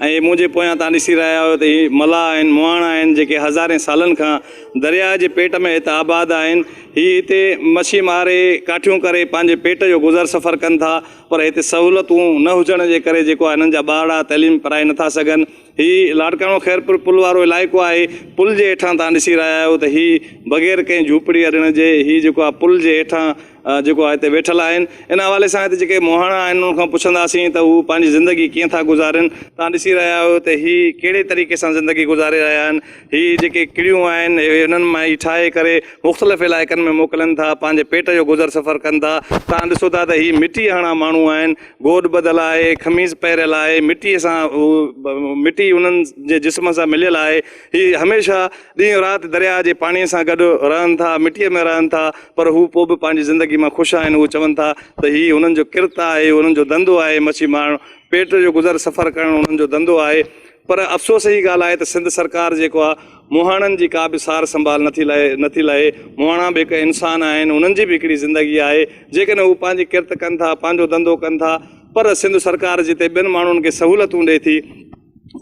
اهي منهنجي پويان تان ڏسي رهيا آهيو ته هي ملاح آهن، مهاڻا آهن، جيڪي هزارين سالن کان درياء جي پيٽ ۾ هت آباد آهن. هي هتي مڇي ماري، ڪاٺيون ڪري پنهنجي پيٽ جو گذر سفر ڪن ٿا، پر هتي سهولتون نه هجڻ جي ڪري جيڪو آهي هنن جا ٻارڙا تعليم پرائي نه ٿا سگهن. هي لاڙڪاڻو خيرپور پل وارو علائقو آهي. پل جي هيٺان تان ڏسي رهيا آهيو ته هي بغير ڪنهن جهوپڙي اڏڻ جي هي جيڪو آهي پل جي هيٺان جيڪو هتي ويٺل آهن ان حوالي سان هتي جيڪي مهاڻا آهن انهن کان پڇنداسين ته هو پنهنجي زندگي ڪيئن ٿا گذارين توهان ڏسي رهيا آهيو ته هي ڪهڙي طريقي سان زندگي گذاري رهيا آهن هي جيڪي ڪڙيون آهن اهي انهن مان ئي ٺاهي ڪري مختلف علائقن ۾ موڪلن ٿا پنهنجي پيٽ جو گذر سفر ڪن ٿا توهان ڏسو ٿا ته هي مٽي هڻا ماڻهو آهن گوڏ ٻڌل آهي خميس پهريل آهي مٽي سان مٽي انهن جي جسم سان مليل آهي هي هميشه ڏينهن رات درياهه جي پاڻيء سان گڏ رهن ٿا، مٽيء ۾ رهن ٿا، پر هو پوء به پنهنجي زندگيء مان خوش آهن. هو چون ٿا ته هي هنن جو ڪرت آهي، اهو هنن جو ڌنڌو آهي. مڇي مارڻ، پيٽ جو گذر سفر ڪرڻ هنن جو ڌنڌو آهي. پر افسوس جي ڳالهه آهي ته سنڌ سرڪار جيڪو آهي، مهاڻن جي ڪا به سار سنڀال نٿي لهي، نٿي لهي. مهاڻا به هڪ انسان آهن، انهن جي به هڪڙي زندگي آهي. جيڪڏهن هو پنهنجي ڪرت ڪن ٿا، پنهنجو ڌنڌو ڪن ٿا، پر سنڌ سرڪار جتي ٻين ماڻهن کي سهولتون ڏئي ٿي،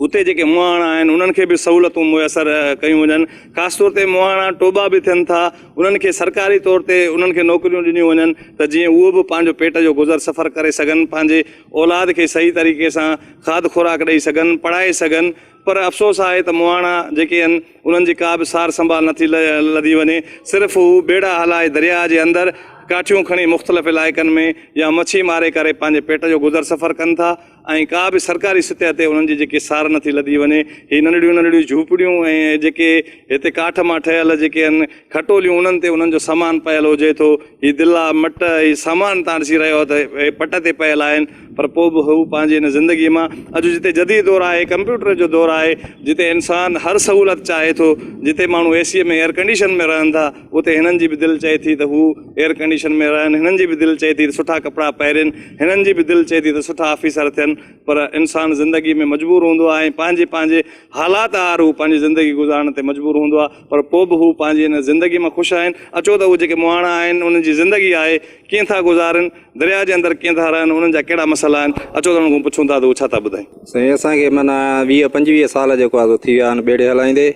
اتي جيڪي مهاڻا آهن انهن کي به سهولتون ميسر ڪيون وڃن خاص طور تي مهاڻا ٽوٻا به ٿين ٿا انهن کي سرڪاري طور تي انهن کي نوڪريون ڏنيون وڃن ته جيئن اهو به پنهنجو پيٽ جو گذر سفر ڪري سگهن پنهنجي اولاد کي صحيح طريقي سان کاڌ خوراڪ ڏئي سگهن پڙهائي سگهن پر افسوس آهي ته مهاڻا جيڪي آهن انهن جي ڪا به سار سنڀال نٿي لڌي وڃي صرف هو ٻيڙا هلائي درياء جي اندر ڪاٺيون کڻي مختلف علائقن ۾ يا مڇي ماري ڪري پنهنجي پيٽ جو گذر سفر ڪن ٿا ۽ ڪا به سرڪاري سطح تي انهن جي جيڪي سار نٿي لڌي وڃي. هي ننڍڙيون ننڍڙيون جهوپڙيون ۽ جيڪي هتي ڪاٺ مان ٺهيل جيڪي آهن کٽوليون انهن تي انهن جو سامان پيل هجي ٿو. هي دلا، مٽ، هي سامان تان ڏسي رهيو ته هي پٽ تي پيل آهن پر پوء به هو پنهنجي ان زندگي مان اڄ جتي جديد دور آهي، ڪمپيوٽر جو دور آهي، جتي انسان هر سهولت چاهي ٿو، جتي ماڻهو اي سيء ۾ ايئر ڪنڊيشن ۾ رهن ٿا، اتي هنن جي به دل چئي ٿي ته هو ايئر ڪنڊيشن ۾ رهن، هنن جي به دل چئي ٿي ته سٺا ڪپڙا پهرين، هنن جي به دل چئي ٿي ته سٺا آفيسر ٿين پر انسان زندگي ۾ مجبور هوندو آهي ۽ پنهنجي پنهنجي حالات آهر هو پنهنجي زندگي گذارڻ تي مجبور هوندو آهي پر پوء به هو پنهنجي ان زندگي مان خوش آهن، اچو ته اهي جيڪي مهاڻا آهن انهن جي زندگي آهي ڪيئن ٿا گذارين، درياء جي اندر ڪيئن ٿا رهن، انهن جا ڪهڙا مسئلا آهن، اچو ته انهن کان پڇون ٿا ته اهي ڇا ٿا ٻڌائين. سائين اسان کي معنيٰ ويهه پنجويهه سال جيڪو آهي سو ٿي ويا آهن ٻيڙي هلائيندي،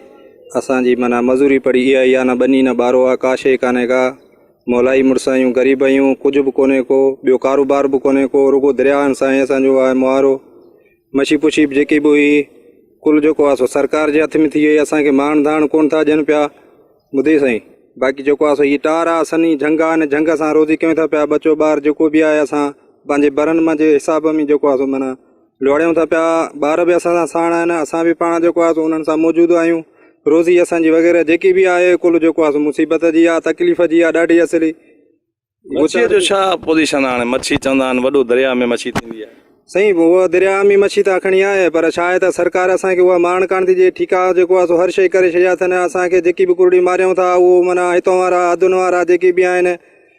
اسان جي معنيٰ مزوري پڙي اها ئي آ، نه ٻني نه ٻارو آ، ڪا شيء ڪانهي ڪا، مولا ئي مڙس آهيون، غريب آهيون، ڪجهه به ڪونهي ڪو، ٻيو ڪاروبار به ڪونهي ڪو، رڳو درياهن سان هي اسان جو آ مهارو. مشي پشي به جيڪي به هئي، ڪل جيڪو آ سو سرڪار جي هٿ ۾ ٿي ويئي، اسان کي ماڻ ڌاڻ ڪونه ٿا ڏين پيا، ٻڌي سائين! باقي جيڪو آ سو هيء ٽار آ، سنهي جهنگ آ، هن جهنگ سان روزي ڪيون ٿا پيا، ٻچو ٻار جيڪو به آهي، اسان پنهنجي برن مان جي حساب ۾ جيڪو آ سو معنيٰ، لوڙيون ٿا پيا، ٻار به اسان سان ساڻ آهن، اسان به پاڻ جيڪو آهي سو انهن سان موجود آهيون، روزي اسان جي وغيره جيڪي به آهي ڪل جيڪو آهي سو مصيبت جي آهي، تڪليف جي آهي ڏاڍي اصلي. مڇيء جو ڇا پوزيشن آهي هاڻي مڇي چوندا آهن وڏو درياء ۾ مڇي ٿيندي آهي. سائين اها درياء ۾ مڇي ته اکڻي آهي پر ڇا آهي ته سرڪار اسان کي اها مارڻ ڪانه ٿي ڏئي ٺيڪا جيڪو آهي سو هر شيء ڪري ڇڏيا اٿن اسان کي جيڪي به ڪرڙي ماريون ٿا اهو معنيٰ هتون وارا حدن وارا جيڪي به آهن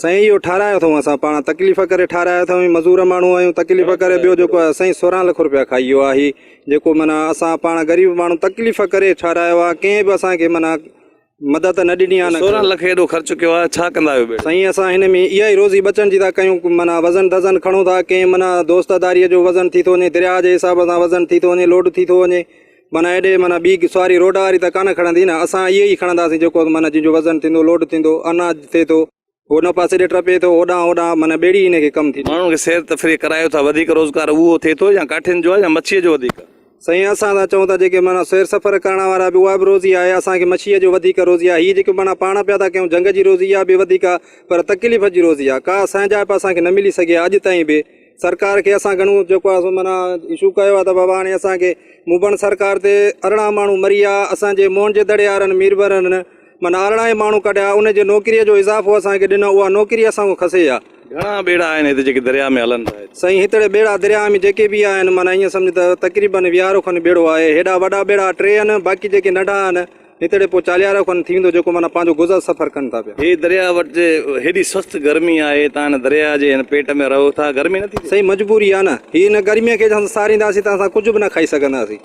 سائين اهو ٺاهرايو اٿئون اسان پاڻ تڪليف ڪري ٺاهرايو اٿئون مزور ماڻهو آهيون تڪليف ڪري ٻيو جيڪو آهي سائين سورهن لک روپيا کائي ويو آهي جيڪو معنيٰ اسان پاڻ غريب ماڻهو تڪليف ڪري ٺاهرايو آهي ڪنهن به اسانکي معنيٰ مدد نه ڏني آهي سورهن لک ايڏو خرچ ڪيو آهي ڇا ڪندا آهيو سائين اسان هن ۾ اها ئي روزي بچڻ جي ٿا ڪيون معنيٰ وزن دزن کڻون ٿا ڪنهن معنيٰ دوست داريء جو وزن ٿي ٿو وڃي درياهه جي حساب سان وزن ٿي ٿو وڃي لوڊ ٿي ٿو وڃي معنيٰ ايڏي معنيٰ ٻي سواري روڊ واري ته ڪانه کڻندي نه، اسان اهي ئي کڻنداسين جيڪو معنيٰ جن جو وزن ٿيندو، لوڊ ٿيندو، اناج ٿئي ٿو، هو ان پاسي ڏي ٽپي ٿو، هوڏانهن هوڏانهن معنيٰ ٻيڙي هن کي ڪم ٿي ٿئي. ماڻهن کي سير تفريح ڪرايو ٿا، وڌيڪ روزگار اهو ٿئي ٿو يا ڪاٺين جو آهي يا مڇيء جو وڌيڪ. سائين اسان ته چئون ٿا جيڪي معنيٰ سير سفر ڪرڻ وارا به اها به روزي آهي، اسان کي مڇيء جو وڌيڪ روزي آهي، هي جيڪي معنيٰ پاڻ پيا ٿا ڪيون جهنگ جي روزي اها به وڌيڪ آهي، پر تڪليف جي روزي آهي، ڪا سانجهائپ اسان کي نه ملي سگهي آهي اڄ تائين به، سرڪار کي اسان گهڻو جيڪو آهي سو معنيٰ اشو ڪيو آهي ته بابا هاڻي اسانکي مبڻ سرڪار تي ارڙهان ماڻهو مري ويا اسان جي موهن جي دڙي وارن ميربرن معنيٰ ارڙهان ئي ماڻهو ڪڍيا ان جي نوڪريء جو اضافو اسانکي ڏنو اها نوڪري اسان کان کسي ويا. گهڻا ٻيڙا آهن هت جيڪي درياء ۾ هلن ٿا. سائين هتڙي ٻيڙا درياء ۾ جيڪي به آهن معنيٰ ائين سمجهه ته تقريبن ويهارو کن ٻيڙو آهي هيڏا وڏا ٻيڙا ٽي آهن باقي جيڪي ننڍا آهن هيتڙي پوء چاليهارو کن ٿي ويندو جيڪو معنيٰ پنهنجو گذر سفر ڪن ٿا پيا. هي درياء وٽ جي هيڏي سست گرمي آهي تان هن درياء جي هن پيٽ ۾ رهو ٿا گرمي نٿي ٿئي. سائين مجبوري آهي نه هي هن گرمي کي جهان سارينداسين ته اسان ڪجهه به نه کائي سگهنداسين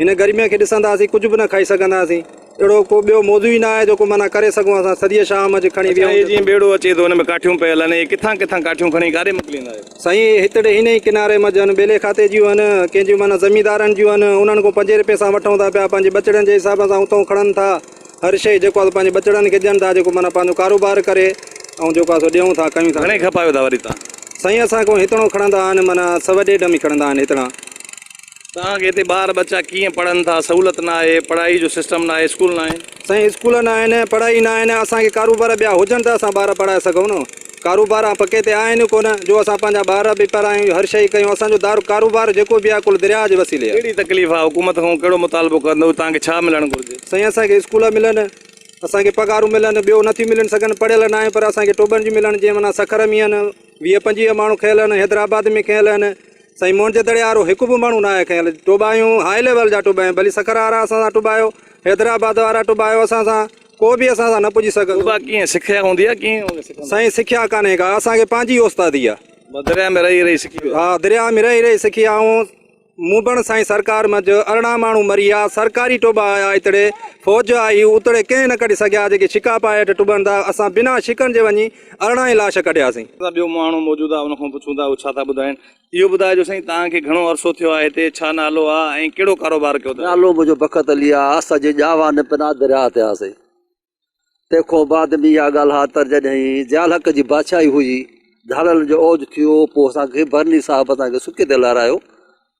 هن گرمي کي ڏسنداسين ڪجهه به نه کائي سگهنداسين اهڙو ڪو ٻيو موضوع ئي نه آهي جيڪو معنيٰ ڪري سگهون اسان سڄيء شام اڄ کڻي ويهون. اڇا هي جيئن ٻيڙو اچي ٿو هن ۾ ڪاٺيون پيل آهن هي ڪٿان ڪٿان ڪاٺيون کڻي ڪاڏي موڪليندا آهيو. سائين هتڙي هن ئي ڪناري منجهن ٻيلي کاتي جيون هن، ڪنهن جيون معنيٰ زميندارن جيون هن، انهن کان پنجين رپين سان وٺون ٿا پيا، پنهنجي ٻچڙن جي حساب سان اتئون کڻن ٿا، هر شيء جيڪو آهي سو پنهنجي ٻچڙن کي ڏين ٿا، جيڪو معنيٰ پنهنجو ڪاروبار ڪري ۽ جيڪو آهي سو ڏيون ٿا، ڪيون ٿا. گهڻي کپايو ٿا وري توهان؟ سائين اسان کان هتڙون کڻندا آهن، معنيٰ سوء ڏيڍ ۾ کڻندا آهن هتڙا. توهان کي هتي ٻار ٻچا ڪيئن پڙهن ٿا سهولت نه آهي پڙهائي جو سسٽم نه آهي اسڪول نه آهن. سائين اسڪول نه آهن پڙهائي نه آهن اسان کي ڪاروبار ٻيا هجن ته اسان ٻار پڙهائي سگهون نه ڪاروبار پ ڪي تي آهن ئي ڪونه جو اسان پنهنجا ٻار به پڙهايون هر شئي ڪيون اسان جو دار ڪاروبار جيڪو به آهي ڪل درياء جي وسيلي آهي. ڪهڙي تڪليف آهي حڪومت کان ڪهڙو مطالبو ڪندو توهان کي ڇا ملڻ گهرجي. سائين اسان کي اسڪول ملن اسان کي پگهارون ملن ٻيو نٿيون ملي سگهن پڙهيل نه آهيون پر اسان کي ٽوٻن جون ملن جيئن معنيٰ سکر ۾ آهن ويهه پنجويهه ماڻهو کيل آهن حيدرآباد ۾ کيل آهن. سائين موهن جي دڙي وارو هڪ به ماڻهو ناهي کنيل ٽوٻايون هاء ليول جا ٽوٻايون ڀلي سکر وارا اسان سان ٽوٻايو حيدرآباد وارا ٽوٻايو اسان سان ڪو به اسان سان نه پڄي سگهندو ٽوٻا ڪيئن سکيا هوندي آهي ڪيئن هوندي سکن سائين سکيا ڪانهي ڪا اسان کي پنهنجي اوستادي آهي بس درياء ۾ رهي رهي سکي ويا ها درياء ۾ رهي رهي سکي آئون موبڻ سائين سرڪار منجھ ارڙهن ماڻهو مري آ سرڪاري ٽوٻا آيا اتڙي فوج آئي اتڙي ڪنهن نه ڪڍي سگهيا جيڪي شڪا پائي هيٺ ٽوٻن ٿا اسان بنا شڪن جي وڃي ارڙهن لاش ڪڍياسين. اسان ٻيو ماڻهو موجود آ ان کان پڇون ٿا اهو ڇا ٿا ٻڌائين. اهو ٻڌاء جو سائين توهان کي گهڻو عرصو ٿيو آ هتي ڇا نالو آ ۽ ڪهڙو ڪاروبار ڪيو ٿا. نالو منهنجو بخت علي آ اسان جي ڄاوا ۾ پناه درياهه تي هئاسين تنهن کان بعد ۾ اها ڳالهه آ تر جڏهين ضيالحق جي بادشاهي هئي ڌاڙيلن جو اوج ٿيو پوء اسان کي برني صاحب اسان کي سڪي تي لهرايو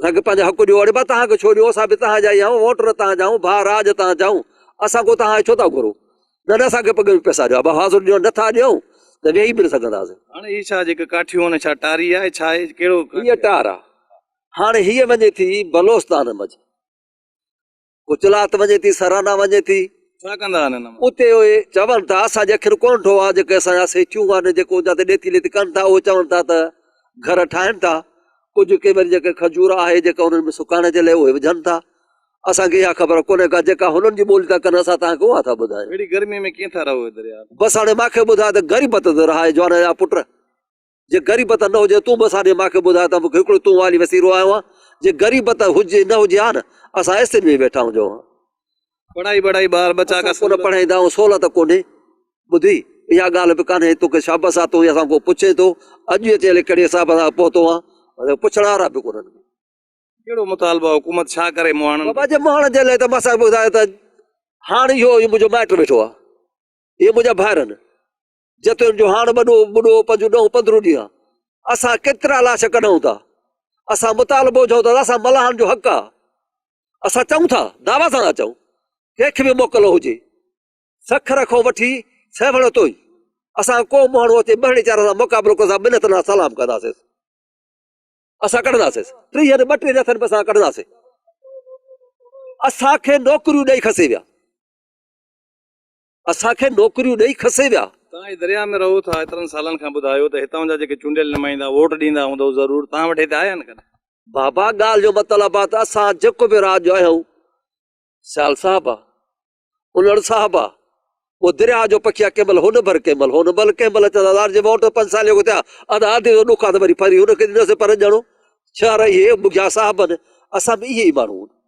اسان کي پنهنجا حق ڏيو، اڙي با توهان کي ڇو ڏيون، اسان به توهان جا ئي آهيون، ووٽ نه توهان جا آهيون، ڀاء راڄ توهان جا آهيون، اسان ڪو توهان کي ڇو ٿا گهرون، نه نه اسان کي پڳ ۾ پئسا ڏيو، ابا حاضر ڏيو، نه ٿا ڏيون ته ويهي به نه سگهنداسين. هاڻ هي ڇا جيڪا ڪاٺيون آهن ڇا ٽاري آهي ڇا آهي ڪهڙو. هيء ٽار آهي. هاڻ هيء وڃي ٿي بلوستان منجهه. گجرات وڃي ٿي سرانا وڃي ٿي ڇا ڪندا آهن هن اتي اهي چون ٿا اسان جي اکر ڪون ٺو آ جيڪي اسان جا سيٺيون آهن جيڪو جتي ڏيتي ليتي ڪن ٿا اهي چون ٿا ته گهر ٺاهن ٿا ڪجهه ڪي وري جيڪي کجور آهي جيڪا انهن ۾ سڪائڻ جي لاء اهي وجهن ٿا اسان کي اها خبر ڪونهي ڪا جيڪا هنن جي ٻولي ٿا ڪن اسان تان کي اها ٿا ٻڌايون اهڙي گرمي ۾ ڪيئن ٿا رهو دريا بس هاڻي ماکي ٻڌاء ته غريبت ته رهائي جوانا جا پٽ جي غريبت نه هجي تون به اسان ڏي ماکي ٻڌاء ته مونکي هڪڙو تون والي وسيرو آيو آهن جي غريبت هجي نه هجي ها نه اسان ايسين ۾ ويٺا هجون ها. پڙهائي وڙهائي ٻار ٻچا ڪا سهولت پڙهائيندا آهيون سهولت ڪونهي ٻڌي اها ڳالهه به ڪانهي توکي شابس آ تون اسان کان پڇين ٿو اڄ اچي الي ڪهڙي حساب سان پهتو آهن ۽ پڇڻ وارا به ڪونهن ڪهڙو مطالبو آهي حڪومت ڇا ڪري مهاڻن بابا جي مهاڻن جي لاء ته مس ٻڌايو ته هاڻ اهو منهنجو مائٽ ويٺو آهي اهي منهنجا ڀائر آهن جتيون جو هاڻ ٻڏو ٻڏو پنهنجون ڏهون پندرهون ڏينهن اسان ڪيترا لاش ڪڍون ٿا اسان مطالبو چئون ٿا اسان ملاحن جو حق آ اسان چئون ٿا دعويٰ سان ٿا چئون ڪنهن کي به موڪل هجي سکر کان وٺي سيوهڻ توئي اسان ڪو ماڻهو اچي ٻهڙي چار سان مقابلو ڪرسا منت نه سلام ڪنداسين اسان ڪڍنداسين ٽيهه ٻه ٽي رٿن به اسان ڪڍنداسين اسانکي نوڪريون ڏئي کسي ويا اسان کي نوڪريون ڏئي کسي ويا. توهان هي درياء ۾ رهو ٿا ايترن سالن کان ٻڌايو ته هتان جا جيڪي چونڊيل نمائندا ووٽ ڏيندا هوندؤ ضرور توهان وٽ هتي آيا آهن ڪڏهن؟ بابا ڳالهه جو مطلب آ ته اسان جيڪو به رات جو اهو سيال صاحب آ انڙ صاحب آ پوء درياء جو پکي آ ڪنهن مهل هن ڀر ڪنهن مهل هن ڀر ڪنهن مهل چئندا لارجي ووٽ پنج سال اڳ ٿيا ادا ادي جو ڏک آ ته وري پري هن کي ڏينداسين پرنجڻو ڇهر اهي بگيا صاحب آهن اسان به اهي ئي ماڻهو آهيون.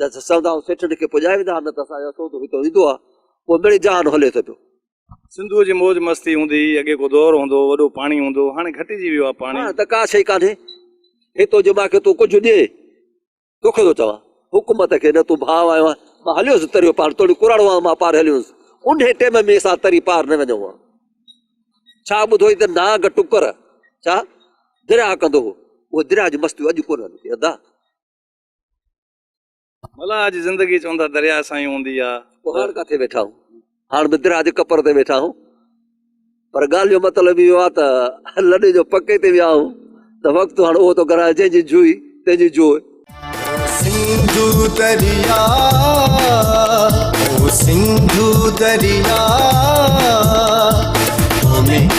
جا سسئندا ۽ سيٺن کي پڄائي ويندا ها نه ته اسان جو سودو هتو ايندو ها پوء مڙئي جهان هلي ٿو پيو. سنڌوء جي موج مستي هوندي هئي، اڳي ڪو دور هوندو هو، وڏو پاڻي هوندو هو، هاڻي گهٽجي ويو آهي پاڻي. هاڻي ته ڪا شيء ڪانهي هتو جو مان کي تون ڪجهه ڏي، توکي ٿو چوان حڪومت کي نه تون ڀاء آهيو ها، مان هليو هوس تريو پار، توڙي ڪراڙو هئان مان پار هليو هوس، انهيء ٽيم ۾ اسان تري پار نه وڃون ها، ڇا ٻڌوئي ته نانگ ٽڪر ڇا درياهه ڪندو هو، اهي درياهه جون مستيون اڄ ڪونهن هلن ٿيون ادا. ملاح جي زندگي چوندا درياء سان ئي هوندي آ. ڪهاڙ ڪاٿي ويٺا هو؟ هاڻ به درياء جي ڪپر تي ويٺا هو. پر ڳالهه جو مطلب اهو آ ته لڏي جو پڪي تي ويا هو ته وقت هاڻ اهو ٿو گهرائي جنهن جي جوئي تنهن جي جوء. سنڌو درياء او سنڌو درياء تو ۾.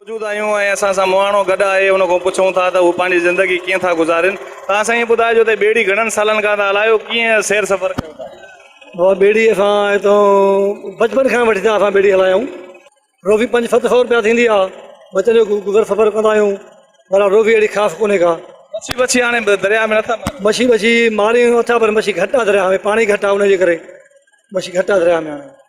موجود آهيون ۽ اسان سان مهاڻو گڏ آهي ان کان پڇون ٿا ته هو پنهنجي زندگي ڪيئن ٿا گذارين ته اسان هي ٻڌائجو ته ٻيڙي گهڻن سالن کان ته الايو ڪيئن سير سفر ڪيو ٿا. بابا ٻيڙي اسان هتان بچپن کان وٺي ته اسان ٻيڙي هلائي آهيون روفي پنج ست سئو روپيا ٿيندي آهي بچن جو گذر سفر ڪندا آهيون بهرحال روفي اهڙي خاص ڪونهي ڪا. مڇي وڇي هاڻي درياء ۾ نٿا ماريو. مڇي وڇي ماريون اٿا پر مڇي گهٽ آهي درياء ۾ پاڻي گهٽ آهي ان جي ڪري مڇي گهٽ آهي درياء ۾ هاڻي.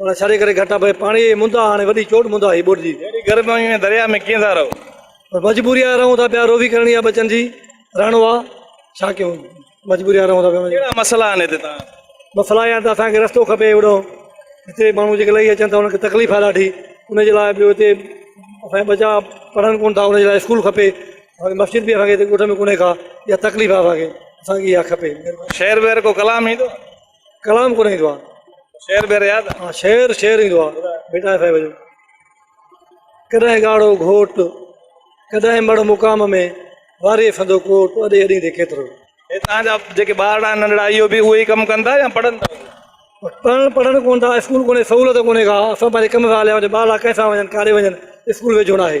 ان ڇڙي ڪري گهٽ ڀئي پاڻيء جي مندا هاڻي وڏي چوٽ مندا هي ٻوڏجي. اهڙي گرميء ۾ درياء ۾ ڪيئن ٿا رهو؟ مجبوريء آ رهون ٿا پيا روي ڪرڻي آ ٻچن جي رهڻو آ ڇا ڪيون مجبوريء آ رهون ٿا پيا. ڪهڙا مسئلا آهن هتي توهان وٽ؟ مسئلا اهي آهن ته اسان کي رستو کپي اهڙو هتي ماڻهو جيڪي لهي اچن ٿا انهن کي تڪليف آ ڏاڍي ان جي لاء ٻيو هتي اسان جا ٻچا پڙهن ڪونه ٿا ان جي لاء اسڪول کپي اسان کي مسجد به اسان کي هتي ڳوٺ ۾ ڪونهي ڪا اها تڪليف آ اسان کي اسان کي اها کپي مهرباني. شعر وعر ڪو ڪلام ايندو آ؟ ڪلام ڪونه ايندو آ شعر بير ياد آ ها شعر شعر ايندو آ بيٽا صاحب جو ڪڏهن ڳاڙهو گهوٽ ڪڏهن مڙ مقام ۾ واري سندو ڪوٽ اڏي اڏي دي ڪيترو هي تان جا جيڪي ٻارڙا ننڍڙا اهو به اهي ڪم ڪن ٿا يا پڙهن ٿا پڙهن پڙهن ڪون ٿا اسڪول ڪونهي سهولت ڪونهي ڪا اسان پنهنجي ڪم سان هليا وڃون ٻارڙا ڪنهن سان وڃن ڪاڏي وڃن اسڪول ويجهو ناهي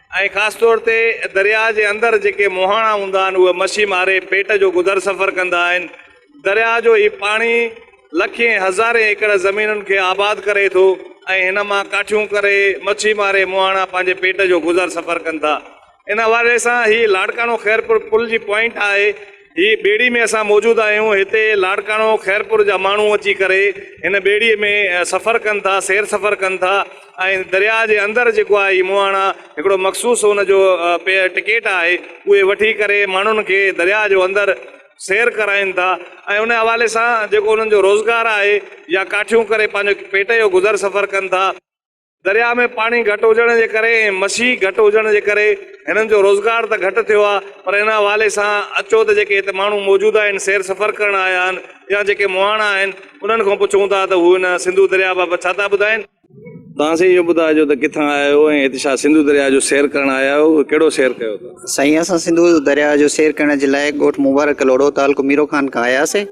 ۽ خاص طور تي درياء جي اندر جيڪي مهاڻا هوندا آهن اهي مڇي ماري پيٽ جو گذر سفر ڪندا آهن. درياء جو هي پاڻي لکين هزارين ايڪڙ زمينن کي آباد ڪري ٿو ۽ هن مان ڪاٺيون ڪري مڇي ماري مهاڻا پنهنجي پيٽ جو گذر سفر ڪن ٿا. ان حوالي سان هي لاڙڪاڻو خيرپور پل جي پوائنٽ آهي. هي ٻيڙي ۾ اسان موجود آهيون هتي لاڙڪاڻو خيرپور جا ماڻهو اچي ڪري هن ٻيڙي ۾ سفر ڪن ٿا سير سفر ڪن ٿا ۽ درياء جي اندر جيڪو آهي هي مهاڻا هڪڙو مخصوص هن جو ٽڪيٽ آهي اهي وٺي ڪري ماڻهن کي درياء جو اندر سير ڪرائين ٿا ۽ ان حوالي سان جيڪو انهن جو روزگار آهي يا ڪاٺيون ڪري پنهنجو پيٽ جو گذر سفر ڪن ٿا. درياء ۾ پاڻي گهٽ هجڻ جي ڪري ۽ مڇي گهٽ هجڻ جي ڪري هنن جو روزگار ته گهٽ ٿيو آهي پر ان حوالي سان اچو ته جيڪي هتي ماڻهو موجود آهن سير سفر ڪرڻ آيا آهن يا جيڪي مهاڻا آهن انهن کان پڇون ٿا ته هو هن سنڌو درياء بابت ڇا ٿا ٻڌائين. توهان سائين اهو ٻڌائجو ته ڪٿان آيا آهيو ۽ هتي ڇا سنڌو درياء جو سير ڪرڻ آيا آهيو ۽ ڪهڙو سير ڪيو اٿو. سائين اسان سنڌو درياء جو سير ڪرڻ جي لاء ڳوٺ مبارڪ ڪلهوڙو تعلقو ميرو خان کان آياسين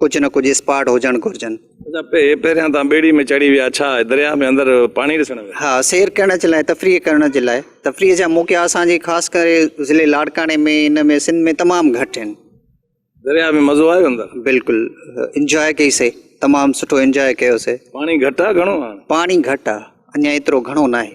ڪجهه نه ڪجهه اسپاٽ هجڻ گهرجن. اچا پهريان توهان ٻيڙي ۾ چڙهي ويا ڇا درياهه ۾ اندر پاڻي ڏسڻ ويا؟ ها سير ڪرڻ جي لاء تفريح ڪرڻ جي لاء تفريح جا موقعا اسان جي خاص ڪري ضلعي لاڙڪاڻي ۾ ان ۾ سنڌ ۾ تمام گهٽ آهن. درياهه ۾ مزو آيو اندر؟ بلڪل انجوائي ڪئي سي تمام سٺو انجوائي ڪيو سي. پاڻي گهٽ آ گهڻو آ؟ پاڻي گهٽ آ اڃا ايترو گهڻو ناهي.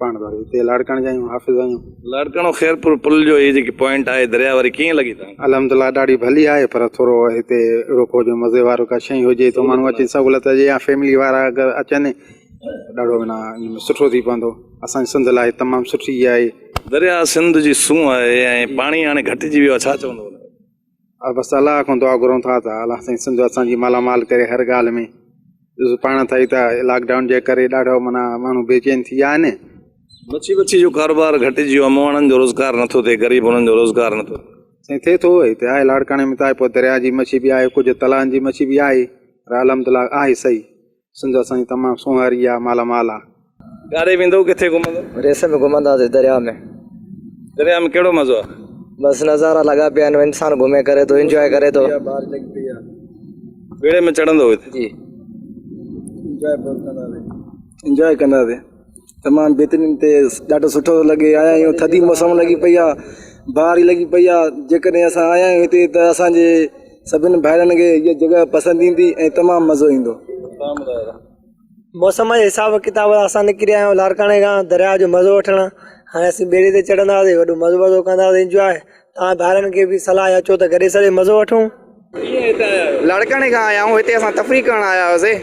پاڻ ته وري هتي لاڙڪاڻي جا آهيون حافظ آهيون. لاڙڪاڻو خيرپور پل جو هي جيڪي پوائنٽ آهي درياء واري ڪيئن لڳي تان کي؟ الحمدلله ڏاڍي ڀلي آهي پر ٿورو هتي روڪو جو مزي وارو ڪا شئي هجي ته ماڻهو اچي سهولت هجي يا فيملي وارا اگر اچن ته ڏاڍو معنيٰ ان ۾ سٺو ٿي پوندو اسان جي سنڌ لاء تمام سٺي جاء آهي. درياء سنڌ جي سونهن آهي ۽ پاڻي هاڻي گهٽجي ويو آهي ڇا چوندو ان تي؟ بس الله کان دعا گهرون ٿا ته الله سائين سنڌ اسان جي مالا مال ڪري هر ڳالهه ۾ ڏسو پاڻ ٿا ته لاڪ ڊائون جي ڪري ڏاڍو منا ماڻهو بي چين ٿي ويا آهن مڇي وڇي جو ڪاروبار گهٽجي ويو امو واڻن جو روزگار نٿو ٿئي غريب انهن جو روزگار نٿو ٿئي سائين ٿئي ٿو هتي آهي لاڙڪاڻي ۾ ته آهي پوء درياء جي مڇي به آهي ڪجهه تلائن جي مڇي به آهي الحمد لله آهي صحيح سنڌ اسانجي تمام سونهاري آ مالا مال آ. ڪاڏي ويندؤ ڪٿي گهمندؤ. ريس ۾ گهمنداسين درياء ۾. درياء ۾ ڪهڙو مزو آ. بس نظارا لڳا پيا آهن انسان گهمي ڪري ٿو انجواء ڪري ٿو. ٻيڙي ۾ چڙهندؤ هتي. جي. انجواء ڪنداسين. تمام بهترين تي ڏاڍو سٺو ٿو لڳي آيا آهيون ٿڌي موسم لڳي پئي آ باري لڳي پئي آ جيڪڏهن اسان آيا آهيون هتي ته اسانجي سڀني ڀائرن کي هي جڳهه پسند ايندي ۽ تمام مزو ايندو موسم جي حساب ڪتاب اسان نڪري آيا آهيون لاڙڪاڻي کان درياء جو مزو وٺڻ هاڻي اسين ٻيڙي تي چڙهنداسين وڏو مزو مزو ڪنداسين انجواء توهان ڀائرن کي به صلاح آهي اچو ته گڏي سڏي مزو وٺون. لاڙڪاڻي کان آيا آهيون هتي اسان تفريح ڪرڻ آيا هئاسي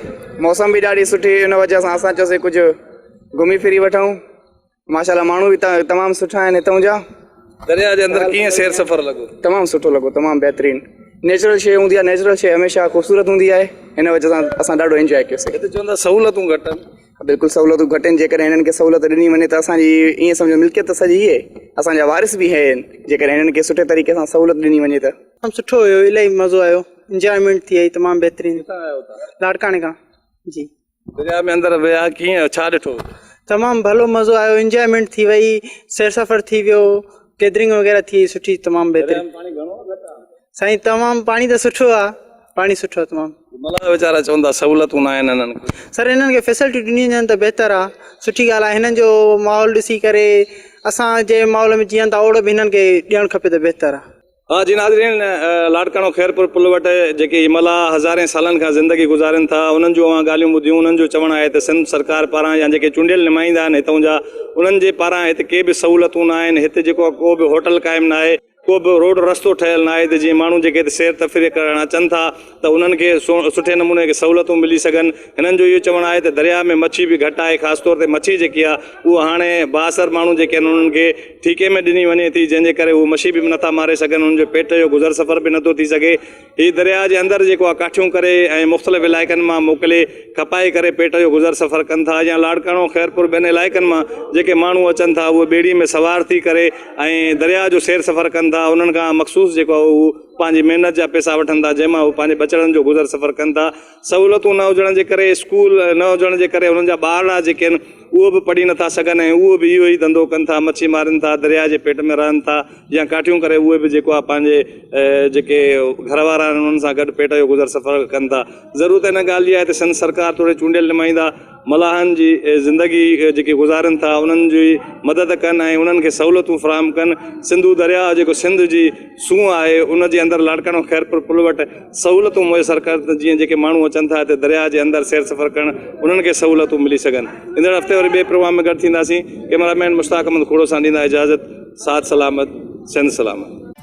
موسم به ڏاڍي سٺي هئي ان وجه سان اسان چيوسي ڪجهه گهمي ڦري وٺون ماشاءالله ماڻهو به هتان تمام سٺا آهن هتون جا درياء جي اندر ڪيئن سير سفر لڳو تمام سٺو لڳو تمام بهترين نيچرل شيء هوندي آهي نيچرل شيء هميشه خوبصورت هوندي آهي هن وجه سان اسان ڏاڍو انجوائي ڪيوسي هتي چون ٿا سهولتون گهٽ آهن. بلڪل سهولتون گهٽ آهن جيڪڏهن هنن کي سهولت ڏني وڃي ته اسان جي ائين سمجهو ملڪيت ته سڄي هي اسان جا وارث به هي آهن جيڪڏهن هنن کي سٺي طريقي سان سهولت ڏني وڃي ته. تمام سٺو هيو الائي مزو آيو انجوائمينٽ ٿي آئي تمام بهترين. ڪٿان آيو تون؟ لاڙڪاڻي کان جي. درياء ۾ اندر ويا ڪيئن ڇا ڏٺو؟ تمام ڀلو مزو آيو انجوائمينٽ ٿي وئي سير سفر ٿي ويو گيدرنگ وغيره ٿي وئي سٺي تمام بهترين. درياء ۾ پاڻي گهڻو آ گهٽ آ؟ سائين تمام پاڻي ته سٺو آ پاڻي سٺو آ تمام ملائي ويچارا چون ٿا سهولتون نه آهن انهن کي سر انهن کي فيسلٽي ڏني وڃن ته بهتر آ سٺي ڳالهه آ هنن جو ماحول ڏسي ڪري اسان جي ماحول ۾ جيئن ٿا اوڙ به هنن کي ڏيڻ کپي ته بهتر آ ها جي ناظرين لاڙڪاڻو خيرپور پل وٽ جيڪي هي ملاح هزارين سالن کان زندگي گذارين ٿا انهن جون اوهان ڳالهيون ٻڌيون انهن جو چوڻ آهي ته سنڌ سرڪار پاران يا جيڪي چونڊيل نمائندا آهن هتون جا انهن جي پاران هت ڪي به سهولتون نه آهن هت جيڪو ڪو به هوٽل قائم نه آهي ڪو به روڊ رستو ٺهيل ناهي ته جيئن ماڻهو جيڪي هتي سير تفريح ڪرڻ اچن ٿا ته انهن کي سٺي نموني کي سهولتون ملي سگهن هنن جو اهو چوڻ آهي ته درياء ۾ مڇي به گهٽ آهي خاص طور تي مڇي جيڪي آهي اهو هاڻي بااثر ماڻهو جيڪي آهن انهن کي ٺيڪي ۾ ڏني وڃي ٿي جنهن جي ڪري هو مڇي به نٿا ماري سگهن انهن جو پيٽ جو گذر سفر به نٿو ٿي سگهي هي درياء جي اندر جيڪو آهي ڪاٺيون ڪري ۽ مختلف علائقن مان موڪلي کپائي ڪري پيٽ جو گذر سفر ڪن ٿا يا لاڙڪاڻو خيرپور ٻين علائقن مان جيڪي ماڻهو اچن ٿا اهي ٻيڙي ۾ سوار ٿي ڪري ۽ درياء جو سير سفر ڪن ٿا انهن کان مخصوص جيڪو آهي اهو پنهنجي محنت جا پيسا وٺن ٿا جنهن مان اهي پنهنجي ٻچڙن جو گذر سفر ڪن ٿا سهولتون نه هجڻ جي ڪري اسڪول نه هجڻ جي ڪري هنن جا ٻارڙا جيڪي آهن اهو به پڙهي نٿا سگهن ۽ اهو به اهو ئي ڌنڌو ڪن ٿا مڇي مارين ٿا درياء جي پيٽ ۾ رهن ٿا يا ڪاٺيون ڪري اهي به جيڪو آهي پنهنجي جيڪي گهر وارا آهن انهن سان گڏ پيٽ جو گذر سفر ڪن ٿا ضرورت ان ڳالهه جي آهي ته سنڌ سرڪار توڙي چونڊيل نمائندا ملاحن جي زندگي جيڪي گذارين ٿا انهن جي مدد ڪن ۽ انهن کي سهولتون فراهم ڪن سنڌو درياء جيڪو سنڌ جي سونهن آهي ان جي اندر لاڙڪاڻو خيرپور پل وٽ سهولتون ميسر ڪن ته جيئن جيڪي ماڻهو اچن ٿا هتي درياء جي اندر سير سفر ڪرڻ انهن کي سهولتون ملي سگهن ايندڙ هفتي وري ٻئي پروگرام ۾ گڏ ٿينداسين ڪئميرا مين مشتاق احمد کوڙو سان ڏيندا اجازت ساٿ سلامت سنڌ سلامت